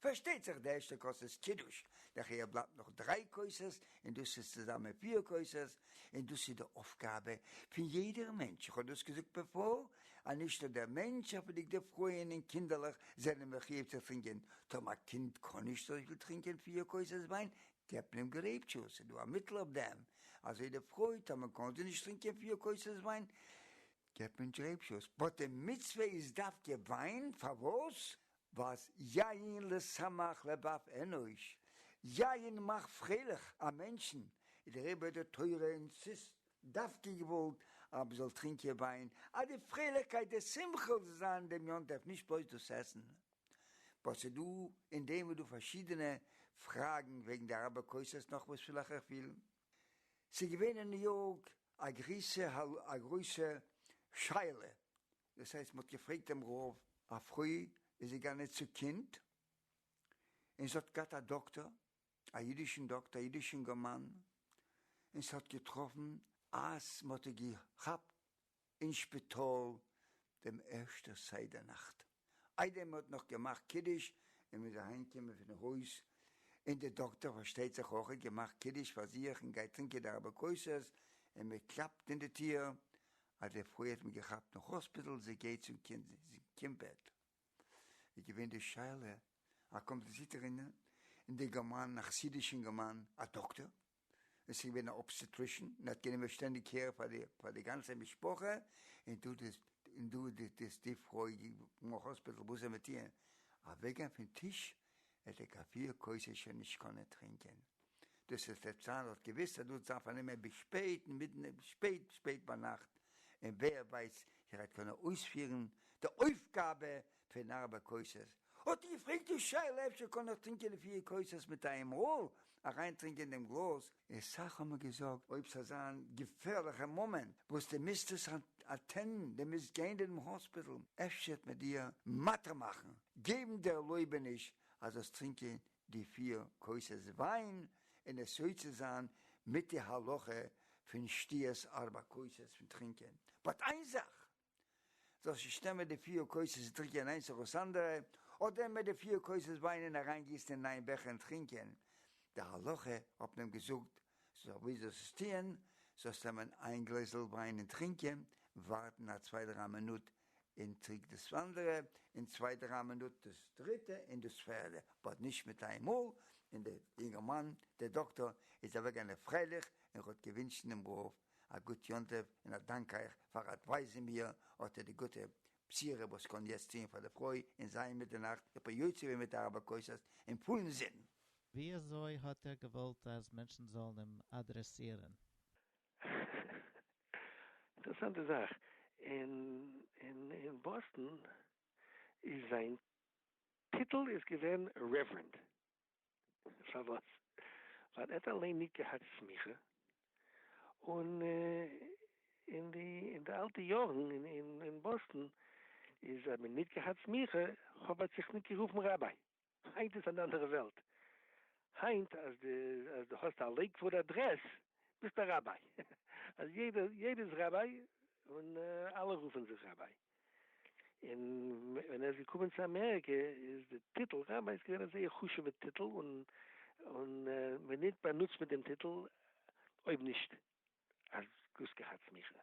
S5: פארשטייט זיך די ערשטע כוס איז קידוש, דערחיה בלייבט נאך דריי כוסות און דאס איז צוזאמען פיר כוסות, און דאס איז די אויפגאבע פון יעדער מענטש, איך האב דאס געזאגט בעפאר אז נישט נאר דער מענטש אפידיג די פרויען און קינדערלעך זענען מחיוב צו טרינקען, טאמער א קינד קען נישט אזויפיל טרינקען פיר כוסות וויין געבט מען אים גרעיפ דזשוס, איז דא א מיטל אויף דעם? אזוי די פרוי טאמער קען זי נישט טרינקען פיר כוסות וויין געבט מען גרעיפ דזשוס, באט די מצוה איז דווקא וויין, פארוואס? וואס יין לשמח לבב אנוש, יין מאכט פרייליך א מענטשן, איז דער עבודה תורה און ס'איז דווקא געוואלט אז מ'זאל טרינקען וויין אז די פרייליכקייט די שמחה זאל זיין דעם יום טוב נישט בלויז דאס עסן. וואס איז דא אין דעם איז דא פארשידענע פראגן וועגן די אראבער כוסות נאך וואס וויל איך איך וויל ס'איז געווען אין ניו יארק א גריסע א גרויסע שאלה דאס הייסט מען האט געפרעגט דעם רב, א פרוי איז געגאנען צו קינד און זי האט געהאט א דאקטער, א אידישן דאקטער, א אידיש אינגערמאן, און ס'האט געטראפן אז מען האט איר געכאפט אין שפיטאל דעם ערשטע סדר נאכט, איידער מען האט נאך געמאכט קידוש און מען איז אהיימגעקומען פון הויז, און די דאקטער פארשטייט זיך אויך האט געמאכט קידוש פאר זיך און גייט טרינקען די ארבע כוסות, און מען קלאפט אין די טיר, אז די פרוי האט מען געכאפט אין האספיטעל זי גייט צום קינד קינד בעט איז געווען די שאלה אז קומט די זיטער אין אינגערמאן א חסידיש אינגערמאן א דאקטער און סאיז געווען א אבסטעטרישען און האט גענומען שטענדיג קער פאר די פאר די גאנצע משפחה און דא די און דא די די פרוי אין האספיטעל וואס זאל מען טיען אוועק גיין פין טיש ער ט'עק א פיר כוסות שוין נישט קאנען טרינקען. דאס איז ט'צארלט געוויס אז דאס דארף ער נעמען ביז שפעט מידנע שפעט שפעט ביינאכט און ווער ווייסט איך וועט קאנען אויספירן די אויפגאבע פון ארבע כוסות. האט ער געפרעגט די שאלה אפשר קאן איך טרינקען די פיר כוסות מיט איינמאהל אריינטרינקען דעם גלאז און סאך האבן מיר געזאגט. אויב ס'זאל זיין געפערליכע מאמענט וואס די מיזט עס אטענדן, די מיזט גיין דערום האספיטעל, אפשר וועט מען דיר מתיר מאכן געבן די ערלויבעניש אז זאלסט טרינקען די פיר כוסות וויין און עס יוצא זיין מיט די הלכה פון שתיית ארבע כוסות פון טרינקען, באט איין זאך, זאל סיסטעם ווען די פיער קויסעס דריקען איינס אויף דאס אנדערע, אדער מען די פיער קויסעס וויינען אריין גיסן אין איין בעכער און טרינקען, די הלכה האט מען געזאגט זאל ווי זאלסט עס טיען, זאלסט נעמען איין גלעזעל וויין און טרינקען, ווארטן א צוויי דריי מינוט און טריק דאס אנדערע, און צוויי דריי מינוט דאס דריטע און דאס פערדע, באט נישט מיט איין מאל, און די אינגערמאן די דאקטאר איז אוועקגעגאנען פרייליך און האט געווינטשן דעם רב א גוט יום טוב און א דאנק אייך פאר אדווייזן מיר אט די גוטע בחירה וואס קען יעצט טוען פאר די פרוי און זיי אין מיטערנאכט איך בין יוצא געווען מיט ארבע כוסות אין פולן זין. ווי אזוי
S3: האט ער געוואלט אז מענטשן זאלן אים אדרעסירן?
S9: אינטערעסאנטע זאך, אין באסטאן איז זיין טיטל איז געווען רעווערענד. פארוואס? ווייל ער האט אליין נישט געהאט סמיכה, און אין די אין די אלטע יארן אין באסטן איז האט מען נישט געהאט סמיכה האב האט זיך נישט גערופן ראביי, היינט איז אן אנדערע וועלט, היינט אז די אז די האסט א לעיקוואוד אדרעס ביסט א ראביי, אז יעדער יעדער איז ראביי און אלע רופן זיך ראביי. און ווען ער איז געקומען צו אמעריקע איז די טיטל רבי איז געווען א זייער חשובע טיטל און און ווען ניט באנוצט מען דעם טיטל אויב נישט אז דאס געהאט סמיכה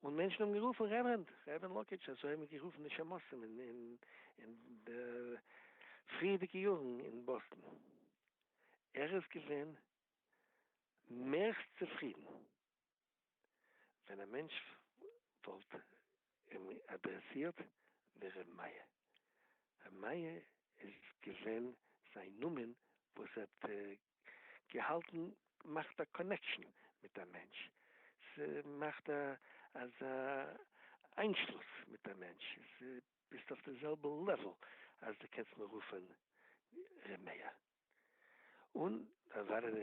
S9: און מענטשן האבן גערופן רעווערענד רעווערענד לאקעטש אזוי האבן גערופן די שמשים אין אין אין די פריערדיגע יארן אין באסטן ער איז געווען מערסט צופרידן. ווען א מענטש וואלט אים אדרעסירט ווי ר' מאיר. ר' מאיר איז געווען זיין נאמען וואס ער האט געהאלטן מאכט א קאנעקשאן מיט א מענטש, ס'מאכט אזא איינשלוס מיט א מענטש, ס'ביסט אויף די זעלבע לעוועל אז די קענסט מיר רופען ר' מאיר. און דאן זיינען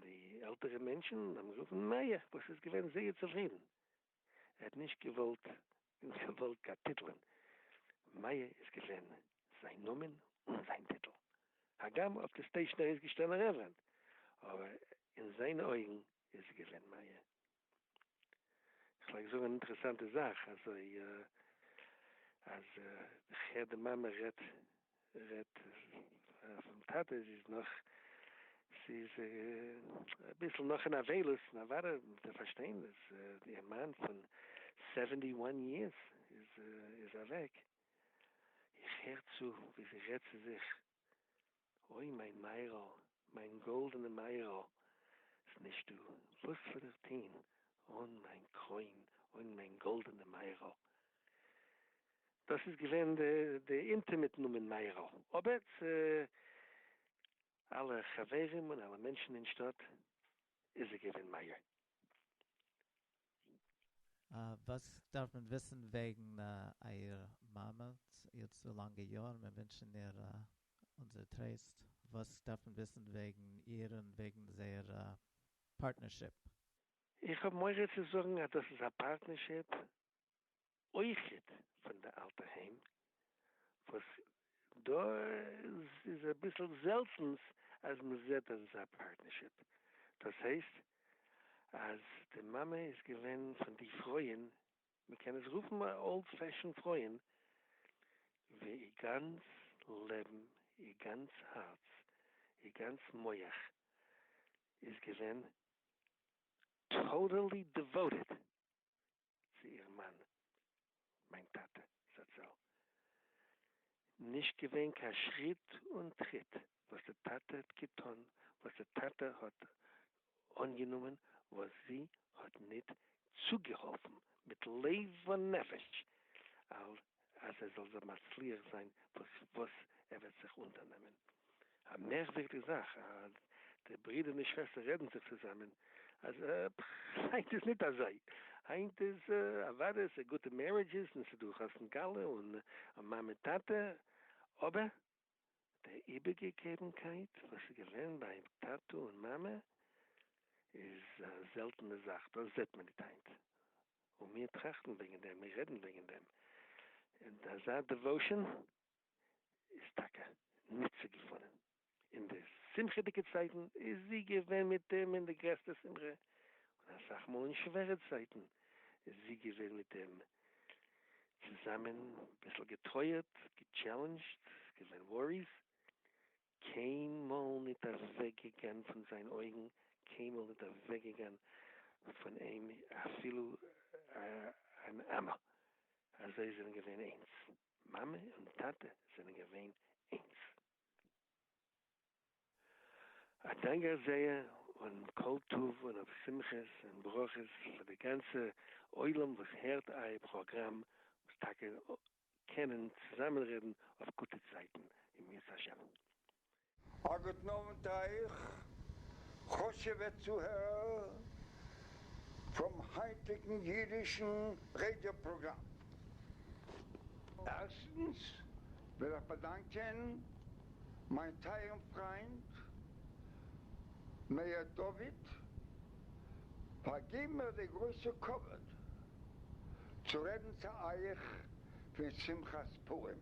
S9: די עלטערע מענטשן האבן גערופן מאיר וואס איז געווען זייער צופרידן, ער האט נישט געוואלט געוואלט קיין טיטלען, מאיר איז געווען זיין נאמען אן זיין טיטל, הגם אויף די סטעישן איז געשטאנען רעווערענד, אבער אין זיינע אויגן איז ער געווען מאיר, כ'פלעג זאגן אן אינטערעסאנטע זאך, אזוי אז איך הער די מאמע רעדט רעדט פון טאטע, זי איז נאך זי איז אביסל נאך אין אבילות, נו וואדע מ'וועט איר פארשטיין אז איר מאן פון סעווענטי וואן יערס איז איז אוועק, איך הער צו ווי זי רעדט צו זיך. אוי מיין מאיר'ל, מיין גאלדענע מאיר'ל, ס'נישטא וואס וועל איך טוהן אן מיין קרוין, אן מיין גאלדענע מאיר'ל. דאס איז געווען די אינטימעט נאמען מאיר'ל, אבער צו אלע חברים און אלע מענטשן אין שטאט איז ער געווען מאיר.
S3: וואס דארף מען וויסן וועגן אייער מאמע איר צו לאנגע יארן, מיר ווינטשן איר אונזער טרייסט, וואס דארף מען וויסן וועגן איר און וועגן זייער פארטנערשיפ? איך
S9: האב מורא צו זאגן אז דאס איז א פארטנערשיפ אויכעט פון די אלטע היים וואס דא איז אביסל זעלטענס אז מען זעט אזא פארטנערשיפ, דאס הייסט אז די מאמע איז געווען פון די פרויען, מען קען עס רופן אולד פעשען פרויען, ווי איר גאנץ לעבן, איר גאנץ הארץ, איר גאנץ מח איז געווען טאטעלי דיוואוטעד צו איר מאן, מיין טאטע זצל, נישט געווען קיין שריט און טריט וואס די טאטע האט געטון, וואס די טאטע האט אנגענומען, וואס זי האט ניט צוגעהאלפן מיט לב ונפש, על אז ער זאל זיך מצליח זיין וואס וואס ער וועט זיך אונטערנעמען. א מערקווירדיג זאך אז די ברידער און די שוועסטער רעדן זיך צוזאמען אז עפ ח היינט איז ניט אזוי, היינט איז אוואדע ס'איז גוטע מערידזשעס און ס'איז דא חתן כלה און מאמע טאטע, אבער. די איבערגעגעבנקייט וואס איז געווען ביי טאטע און מאמע איז א זעלטענע זאך, דאס זעט מען ניט היינט, און מיר טראכטן וועגן דעם, מיר רעדן וועגן דעם, און אזא דעוואושען איז טאקע ניט צו געפונען. אין די שמחה'דיגע צייטן איז זי געווען מיט אים אין די גרעסטע שמחה, און אסאך מאל אין שווערע צייטן איז זי געווען מיט אים אין צוזאמען ביסל געטרויערט, געטשעלענדזשט, געווען וואריס, קיינמאל ניט אוועק געגאן פון זיין אויגן, קיינמאל ניט אוועק געגאן פון אים אפילו אן אמה, אזוי זענען געווען איינס, מאמע און טאטע זענען געווען איינס. א דאנק איך זייער און כל טוב און אויף שמחות און ברכות פאר די גאנצע עולם וואס הערט אייער פראגראם וואס טאקע קענען צוזאמען רעדן אויף גוטע צייטן אם ירצה ה'. א
S10: גוטן אוונט אייך חשוב'ע צוהערער פרום היינטיגן אידישן רעדיא פראגראם. ערשטנס וויל איך באדאנקען מיין טייערן פריינד מאיר דוד, פארגיב מיר די גרויסע כבוד צו רעדן צו אייך פון שמחת פורים.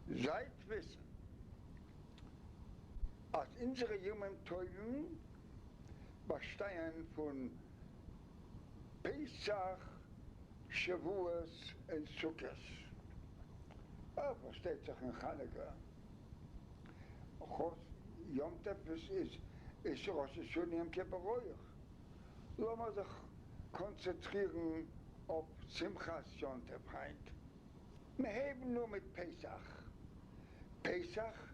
S10: זייט וויסן אז אונזערע ימים טובים באשטייען פון פסח, שבועות און סוכות, אה, פארשטייט זיך און חנוכה, חוץ יום טוב איז איז ראש השנה יום כיפור אויך, לאמיר זיך קאנצעטרירן אויף שמחת יום טוב היינט, מ'הייבן אן מיט פסח, פסח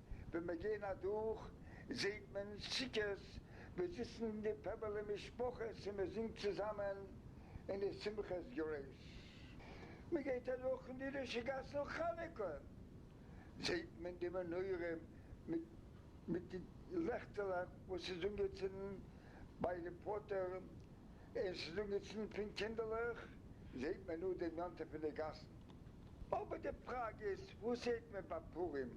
S10: ווען מיר גייען אדורך זעהט מען סוכות ווי זיצן די פעמילי משפחות און מען זינגט צוזאמען און די שמחה איז גרויס, מען גייט אדורך אין די רישא גאסן חנוכה זעהט מען די מנורה מיט מיט די לעכטעלעך וואס איז אנגעצינדן ביי די פאטער און עס איז אנגעצינדן פון קינדערלעך זעהט מען נאר די נאנטע פון די גאסן. אבער די פראגע איז וואס זעהט מען ביי פורים?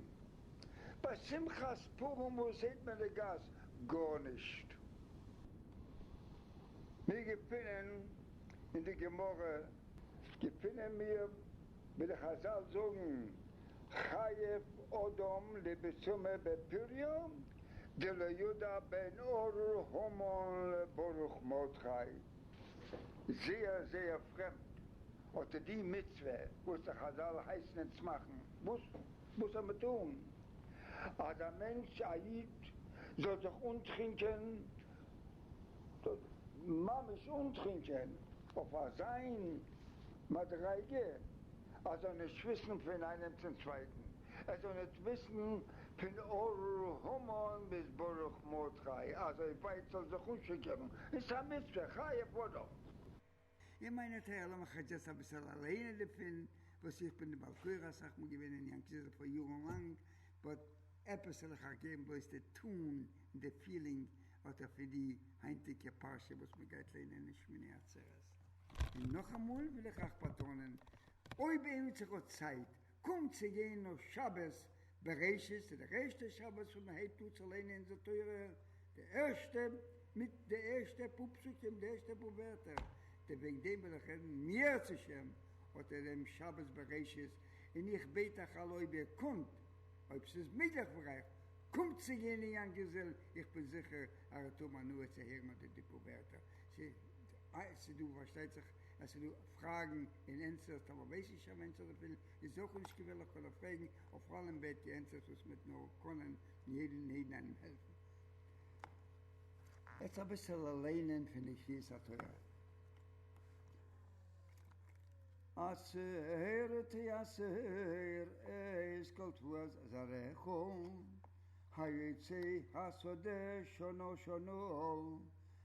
S10: ביי שמחת פורים וואס זעהט מען די גאס? גארנישט. מיר געפינען אין די גמרא געפינען מיר ווי די חזל זאגן חייב אדם לבצומר בפריו דלא ידע בין ארור המן לברוך מרדכי, זייער זייער פרעמד האט ער די מצוה וואס די חזל הייסן אונז מאכן, וואס? וואס זאל מען טון אז א מענטש א איד זאל זיך אנטרינקען, ממש אנטרינקען אויף אזיין מדריגה אז זאל נישט וויסן פון איינעם צום צווייטן, ער זאל נישט וויסן פון אור המן ביז ברוך מרדכי, אזוי ווייט זאל זיך אנשיקערן, איז א מצוה חיי אדם. אין
S5: מיינע טעג לאמיר איך עטס יעצט אביסעל א לערנען דערפון וואס איך בין די בעל קורא אסאך מאל געווען אין יענקי זעלע פאר יארן לאנג באט עפעס וועל איך אייך געבן בלויז די טאן און די פילינג אדער פון די היינטיגע פרשה וואס מען גייט לערנען אין שמיני עצרת און נאכאמאל וויל איך אייך באטאנען אויב עימיצער האט צייט קומט צו גיין אויף שבת בראשית צו דער ערשטער שבת וואס מען הייבט אן צו ליינען אונזער תורה, די ערשטע מיט די ערשטע פאר פסוקים, די ערשטע פאר ווערטער, די וועגן דעם וויל איך רעדן, מי ירצה השם האט ער דעם שבת בראשית, און איך בעט אייך אלע אויב איר קאנט, אויב ס'איז מעגליך פאר אייך, קומט צו גיין אין יאנקעסוויל, איך בין זיכער אז איר וועט האבן הנאה צו הערן אט די פאר ווערטער, ס'איז דא פארשטייט זיך. עס איז דא פראגן און ענטפערס טאמער ווייס איך שוין ווען צו דערפילן איז עס אויך נישט געווענליך פאר די פראגן אויף אלעם בעט איר ענטפערס וואס מ'וועט נאר קענען און יעדן און יעדן איינעם העלפן. עטס אביסעלע ליינען פון די קריאת התורה. עצור תעצור את כל תבואת זרעך היוצאי השדה שנה שנה.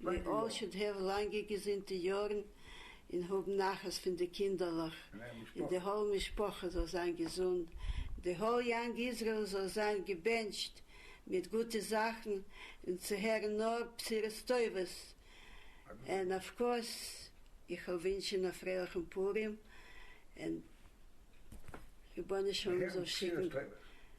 S11: ווי אלל שוד העוו לאנגע געזונטע יארן און האבן נחת פון די קינדערלעך און די האול משפחה זאל זיין געזונט די האול יאנג איזרעיל זאל זיין געבענטשט מיט גוטע זאכן און צו הערן נאר בשורות טובות און אויף קאורס איך וויל ווינטשען א פרייליכן פורים און רבונו של עולם זאל שיקן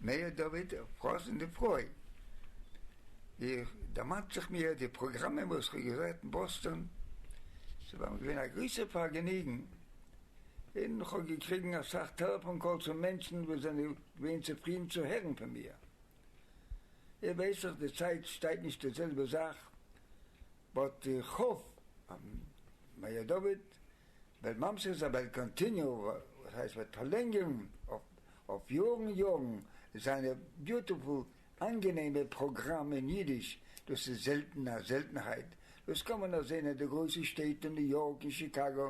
S10: מאיר דוד פראסען די פרוי. איך דערמאנט זיך מיר די פראגראמען וואס איך האב געהערט אין באסטאן, ס'איז מיר געווען א גרויסע פארגעניגן, און איך האב געקריגן אסאך טעלעפאן קאלס פון מענטשן וואס זענען געווען צופרידן צו הערן פון מיר. איר ווייסט דאך די צייט שטייט נישט די זעלבע זאך, באט איך האף אז מאיר דוד וועט ממשיך זיין, וועט קאנטיניו, וואס הייסט וועט פארלענגערן, אויף יארן יארן זיינע ביוטעפול אנגענעמע פראגראם אין אידיש, דאס איז זעלטן א זעלטנהייט, דאס קען מען נאר זעהן אין די גרויסע שטעט אין ניו יארק אין שיקאגא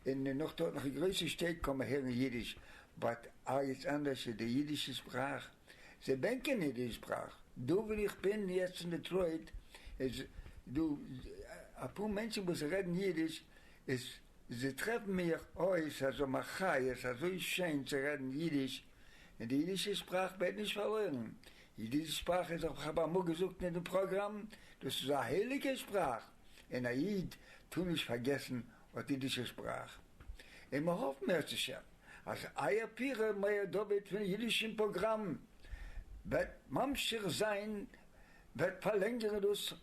S10: און נאך דארט נאך אין גרויסע שטעט קען מען הערן אידיש באט ערגעץ אנדערש איז די אידישע שפראך זיי בענקען נישט די שפראך דא ווי איך בין יעצט אין דעטרויט איז דא אפאר מענטשן וואס רעדן אידיש איז זיי טרעפן מיך אויס אזוי מחיות, אזוי שיין צו רעדן אידיש, און די אידישע שפראך ווערט נישט פארלוירן. אידישע שפראך איז, האב איך אמאל געזאגט אין די פראגראם, דאס איז א הייליגע שפראך, און א איד טאר נישט פארגעסן אט אידישע שפראך. און מיר האפן מערצעשעם אז אייער פירער מאיר דוד פון אידישן פראגראם וועט ממשיך זיין, וועט פארלענגערן דאס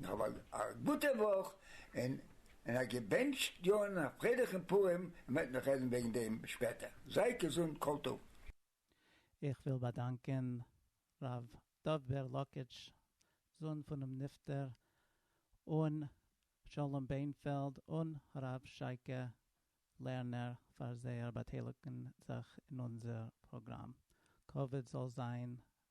S10: נאכאמאל א גוטע וואך און און א געבענטשט יאר און א פרייליכן פורים, מען וועט נאך רעדן וועגן דעם שפעטער, זייט געזונט כל טוב.
S3: איך וויל באדאנקען ר' דוב בער לאקיטש, זון פונעם נפטר, און שלום בענפעלד און הרב שייקע לערנער פאר זייער באטייליגן זיך אין אונזער פראגראם. כבוד זאל זיין